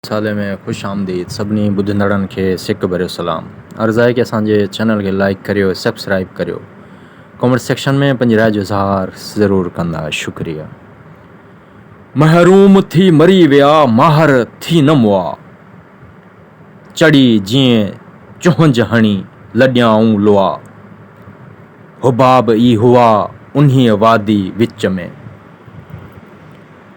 رسالي ۾ خوش آمديد سڀني ٻڌندڙن کي سڪ ڀريو سلام عرض آهي ڪي اسان جي چينل کي لائيڪ ڪريو سبسڪرائيب ڪريو ڪمينٽ سيڪشن ۾ پنهنجي راء جو اظهار ضرور ڪندا شڪريه محروم ٿي مري ويا ماهر ٿي نه مئا چڙي جئين چهنج هڻي لڏيائون لئا حباب ئي هئا انهيء وادي وچ ۾.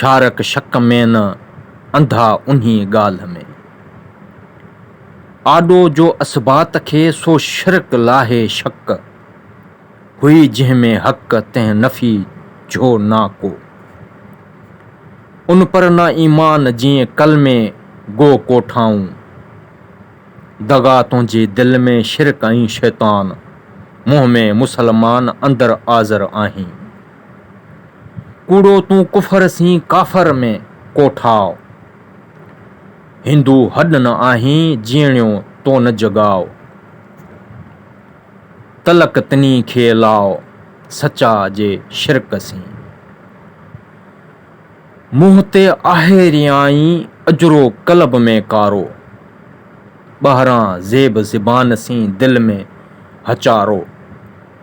شارڪ شڪ ۾ نه انڌا انهيء ڳالهه ۾. آڏو جو اثبات کي سو شرڪ لاهي شڪ، هئي جنهن ۾ حق تنهن نفي جھو نا ڪو. ان پر نه ايمان جيئن ڪلمي گو ڪوٺائون. دغا تنهنجي دل ۾ شرڪ ۽ شيطان، منهن ۾ مسلمان اندر آزر آهين. ڪوڙو تون ڪفر سين ڪافر ۾ ڪوٺاء. هندو هڏ نه آهين جيئڻيو تو نه جڳاء. تلڪ تني کي لاء سچاء جي شرڪ سين. منهن تي آهي ريائين اجرو قلب ۾ ڪارو. ٻاهران زيب زبان سين دل ۾ هچارو.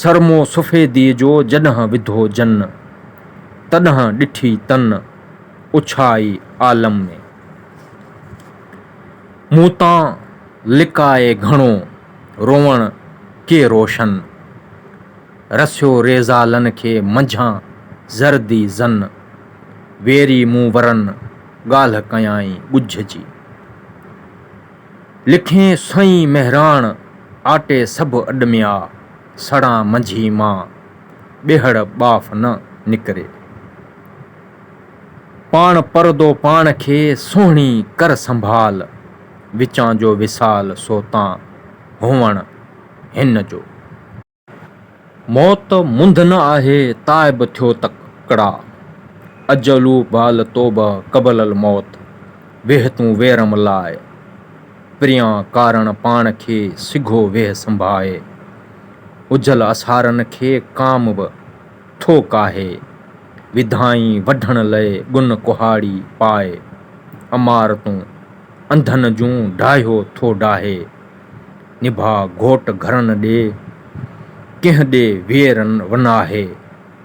سرمو سفيديء جو جڏهن وڌو جن، تڏهن ڏٺي تن اڇائي عالم ۾. مون تان لڪائي گهڻو روئڻ ڪي روشن، رسيو ريزالن کي منجهان زردي زن. ويري مون ورن ڳالهه ڪيائين ڳجهه جي. لکين سائين مهراڻ آٽي سڀ اڏميا سڙان منجهي مان ٻيهڙ ٻاڦ نه نڪري پاڻ پردو پاڻ کي سهڻي ڪر سنڀال وچان جو وصال سو تان هونئڻ هن جو. موت منڌ نه آهي تائب ٿيو تڪڙا، اجلو بال توبه قبل الموت، ويهه تون ويرم لاء پريان ڪارڻ پاڻ کي سگهو ويهه سنڀائي، اجل اسارن کي ڪام به ٿو ڪاهي، وڌائين وڍڻ لئه ڳن ڪهاڙي پائي، عمارتون انڌن جون ڊاهيو ٿو ڊاهي. نڀاء گهوٽ گهرن ڏي، ڪنهن ڏي وير ون آهي.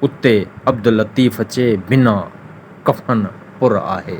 اتي عبداللطيف چي، بنا ڪفن پر آهي.